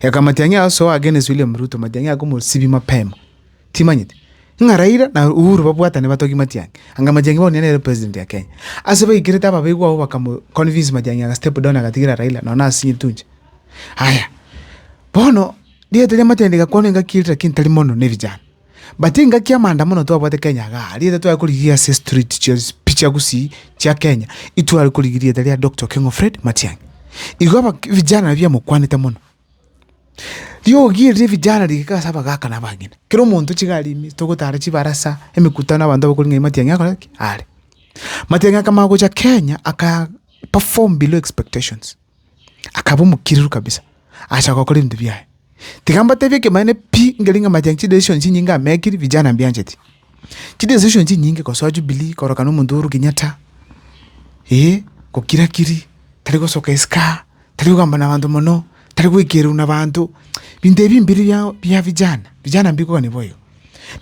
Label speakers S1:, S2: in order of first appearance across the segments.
S1: Eka matiang'i aye osoe against William Ruto, matiang'i akomosibia mapema. Timanyeti? Ng'a Raila na Uhuru babwatane batogie matiang'i. Anga matiang'i bono nigo nere president ya Kenya. Ase baikerete ababegwa abwo bakamo convince matiang'i aga step down agatigira Raila nonya na asinyete inche. Aya, bono rieta ria matiang'i rigakwanwa engaki eria lakini tari mono na evijana. But engaki amanda mono twabwate Kenya iga aria ere tware korigia ase street chionsi pi chia gusii chia Kenya itware korigia erieta ria Doctor Okengo Fred Matiang'i. Igo abak vijana nabio biamokwanete mono. Riogi eri ria vijana rigeka ase abagaka na abagima. Kera omonto tiga aria ime togotara chibarasa, emekutano abanto abakori ng'ai Matiang'i akore ki? Are. Matiang'i akamanya gocha Kenya aka perform below expectations. akaba omokiriru kabisa, acha gokora ebinto biaye. Tiga mbatebie ekemanyeto pi nkerenge amache aywo chidecision chinyinge amekiri vijana mbiancheti. Chidecision chinyinge gosoa jubilee, korokana omonto Uhuru Kenyatta, eh, gokira kiri, tari gosoka eskaa, tari kogamba nabanto mono, tari goikererwa nabanto, binto ebi mbiri bia bia vijana, vijana mbikokani boigo.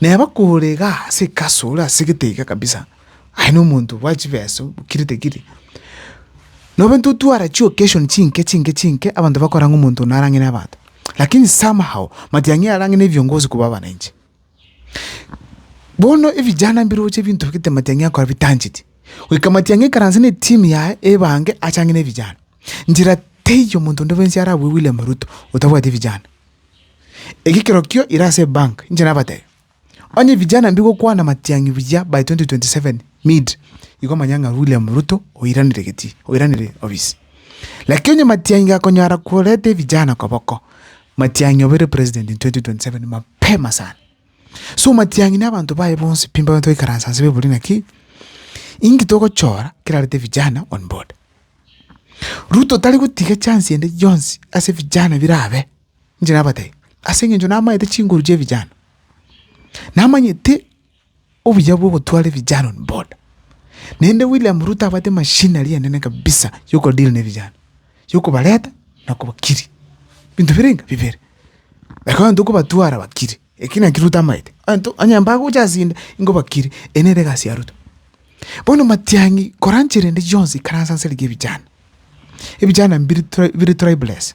S1: Neba kore igaa ase ekasi ore asegete iga kabisa. Aye nomonto bwa chibesa okiri tekiri. Nabo intwe tware chi'occasion chinke chinke chinke abanto bakora ng'a omonto one arang'ine abanto. Lakini somehow matiang'i arang'ine ebiongozi korwa abananchi. Bono ebijana mbiroche ebinto bigete matiang'i akore bitancheti. Goika matiang'i aikaranse ne team yaye ebange achang'ine ebijana. Njera teiyo omonto onde bwensi ara abue William Ruto otabwati ebijana. Eki kerokio ira ase ebank inche nabatebi. Onye vijana mbigokwana matiang'i buya by 2027 mid igo manya ng'a William Ruto oiranire geti oiranire ofisi. Lakini onye matiang'i gakonyara koreta evijana koboko matiang'i obeire president in 2027 mapema sana. So matiang'i na abanto baye bonsi pi mbabane toikaransa nse baiborie naki inki togochora kerarete vijana on board. Ruto tari gotiga chance ende yonsi ase vijana birabe. Inche nabatebi, ase eng'encho namaete chinguru chia vijana, namanyete obuya bwa ogotwara evijana on board, naende William Ruto abwate machinery enene kabisa ya oko deal ne vijana, ya okobareta na okobakiri, binto bire ng'a bibere. Ekero abanto okobatwara bakire, ekio nakio Ruto amaete, abanto onye mbagocha ase inde nigo bakire, eye nere egasi ya Ruto. Bono matiang'i kora nchera ende yionsi ikaransa nse rigiya evijana, evijana mbiri tri bire tribeless,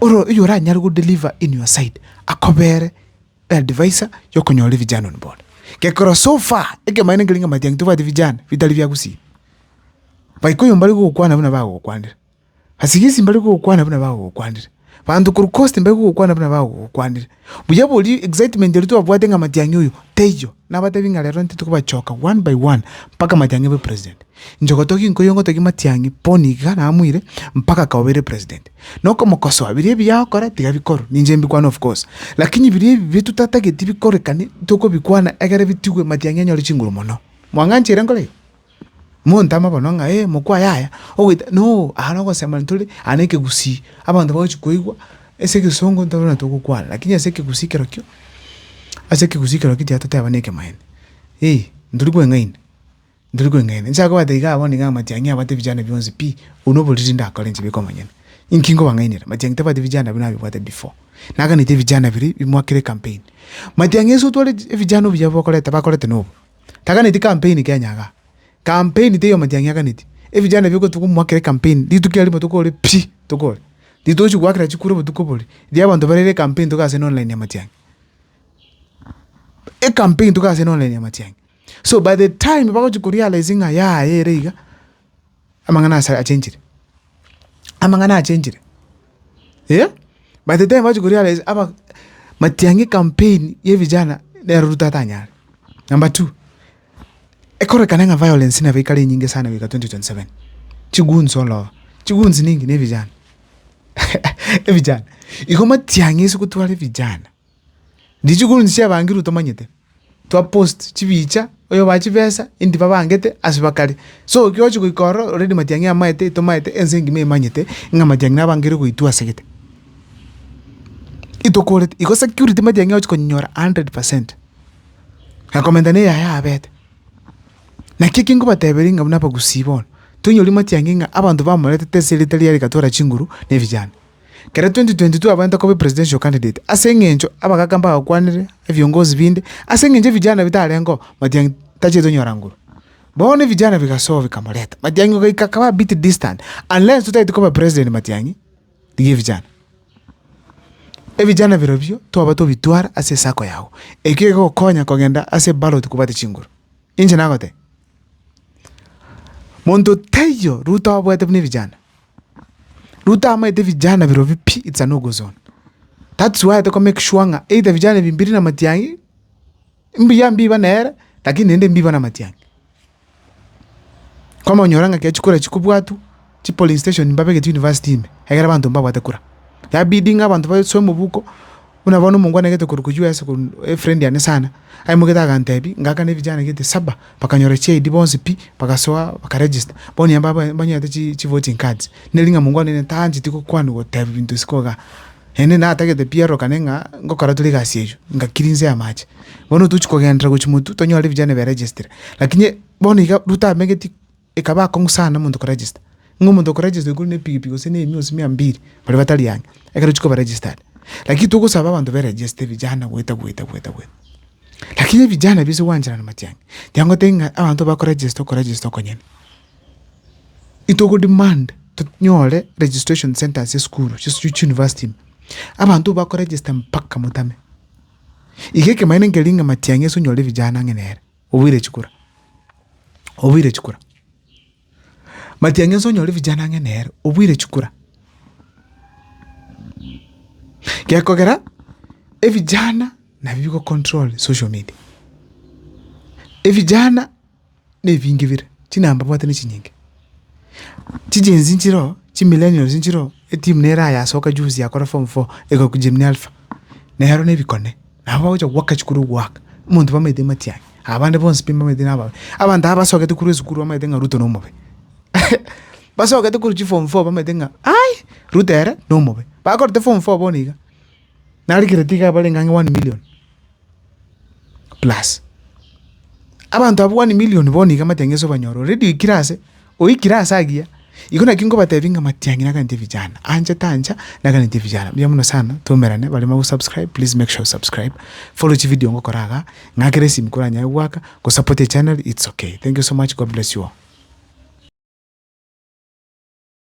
S1: Oro oywo oranyare go deliver in your side akobere advisor ya okonyora vijana on board. Gekogera so far ekemanyererio nkerenge matiangi tobwate vijana bitari bia gusii. By koiyo mbari gokwana buna bagokwanire. Asigisi mbari gokwana buna bagokwanire. Banto korwa coast mbari gokwana buna bagokwanire. Buya boria excitement eria twabwate ng'a matiang'i oyo taiyo, nabatebi ng'a rero intwe tikobachoka one by one mpaka matiang'i abe president. Nchogo togie nkoiyo ngotogie matiang'i boni iga namoire mpaka akaba obeire president. Na okomokosoa biria ebiya agokora tiga bikorwe, ninche mbikwane of course. Lakini biria ebibe totatageti bikorekane, tokobikwana egere bitigwe matiang'i anyore chinguru mono. Mwang'anchire nkore igo? Montama bono ng'a eh mokwa yaya ogoita no aa nogosema ntore aa na ekegusii, abanto bagochi koigwa ase egesongo ntoro na togokwana lakini ase ekegusii kerokio, ase ekegusii kerokio tiga toteba na ekemaene eh ntori kweng'aini, ntori kweng'aini. Nchake kobwata igaa bono igaa amatiang'i abwate vijana bionsi pi, obwo na oboriri ndakore inche biko omonyene. Inki nkobang'ainera? Matiang'i tabwati vijana buna abebwate before. Naganeti ebijana biri bimoakire ekampeni. Matiang'i ase otware echi ebijana obuya bokorete bakorete na obo, Taganeti kampeini kenyaga. Kampeini teiyo amatiang'i aganeti. Ebichanda ebio gotugwa omwaka kere kampeini, rituko erio rimo tokore pi! tokore. Ritochi goakera chikura obotuko oboria. Riria abanto barere kampeini togaase na online amatiang'i. Ekampeini togaase na online amatiang'i. So by the time bagochi korealize ng'a yaaye ere iga. Amang'ana ase achenchire? Amang'ana achenchire? Eh? By the time bachi koria are aba Matiang'i campaign ya vijana nero Ruto atanyare. Number two, ekorekane ng'a violence nabo ekare enyinge sana goika 2027. Chiguns all over. Chiguns ninki na evijana. Evijana. Igo Matiang'i ase gotwara evijana. Richiko rionsi chiabangirwe tomanyete, twa post chibicha, oyobae chibesa indi babangete ase bakare. So ekero ochia goika ororo already matiang'i amaete etomaete ense engima emanyete ng'a matiang'i nabangire goitwa asegete. Itokoreti igo security matiang'i ochia konyora hundred percent. Akomenta na eyaye abete. Naki eki nkobateberia ng'a buna abagusii bono, toinyori matiang'i ng'a abanto bamoretete ase erita riaye rigatwara chinguru na ebijanda. Kera 2022 abwenerete koba epresidential candidate ase engencho abagaaka mbagakwanire ebiongozi binde ase engencho evijana bitarengeo Matiang'i tacheti onyora nguru. Bono evijana bigasoa bikamoreta Matiang'i ogaika akaba a bit distant unless totaeti koba president Matiang'i rigia evijana. Evijana birobio twaba tobitwara ase esako yago ekio egokonya kogenda ase ballot kobwate chinguru. Inche nagotebia monto taiyo Ruto abwate buna evijana. Ruto amaete vijana birobio pi it's an ugu zone that's why atoko make sure ng'a either vijana ebi mbiri na matiang'i mbuya mbiba nere lakini naende mbiba na matiang'i. Komonyora ng'a ekiagera chikura chikobwatwa chipolice station mbabegete university ime egere abanto mbabwate kura yabidi ng'a abanto basoe mobuko. Buna bono omonto kwane gete korokwa US korwa efrendi yane sana, aimoketie agantebi, ngakana ebijana gete saba, bakanyora chi ID bonsi pi, bagasoa baka register, bono onye mbabo mbanyete chi chi voting cards, neri ng'a monto one ne tancheti gokwana goteba ebinto isiko igaa, naende natagete pi erorokane ng'a ngokora tore egasi eywo, nga cleanse amache. Bono tochi kogenderera gochi motwe, tonyore ebijana bia registry, lakini bono iga Ruto amegetie. Ekaba akong'u sana omonto koregister, ng'a omonto okoregister oikorwa ne pigipigi gose ne emia gose mia mbiri, baria batari ang'e, ekero ochia koba registered. Lakini togosaba abanto be register vijana goeta goeta goeta goeta. Lakini evijana bise gwancherana mache ang'e, tiga ngotebie ng'a abanto bakoregister okoregister okonyene, itogodemand tonyore registration centres chia esukuru chia chi university ime, abanto bakoregister mpaka motame. Iga ekemanyeto nkeria ng'a matiang'i ase onyore vijana ang'e nere. Oboire chikura, oboire chikura. Matiang'i onsi onyore vijana ang'e nere, oboire chikura. Gekogera evijana nabio bigocontrol social media. Evijana na ebinge bire, chinamba mbwate na echinyinge. Chichensi nchire oo, chimillennials nchire oo, etimu nere ayasoka juzi yakora form four egaku Jimmy Alpha, nero nebikone, nabo bagocha goaka chikuru ogoaka, omonto bamaete matiang'i, abande bonsi pi mbamaete nababe, abanto aba basogete korwa esukuru bamaete ng'a Ruto nomobe basogete korwa chiform four bamaete ng'a ai, Ruto ere nomobe, bakorete form four bono iga. nari kereti iga abarenge ang'e one million plus abanto abwo one million bono iga matiang'i ase obanyore already oikire ase oikire ase agiya, igo naki nkobatebi ng'a matiang'i naganetie vijana, anchete ancha naganetie vijana. Mbuya mono sana twaumerane baria mogosubscribe please make sure you subscribe, follow chividio ngokora igaa, ng'akere esimi koranyare goaka, gosapota echaneri it's okay. Thank you so much, God bless you all.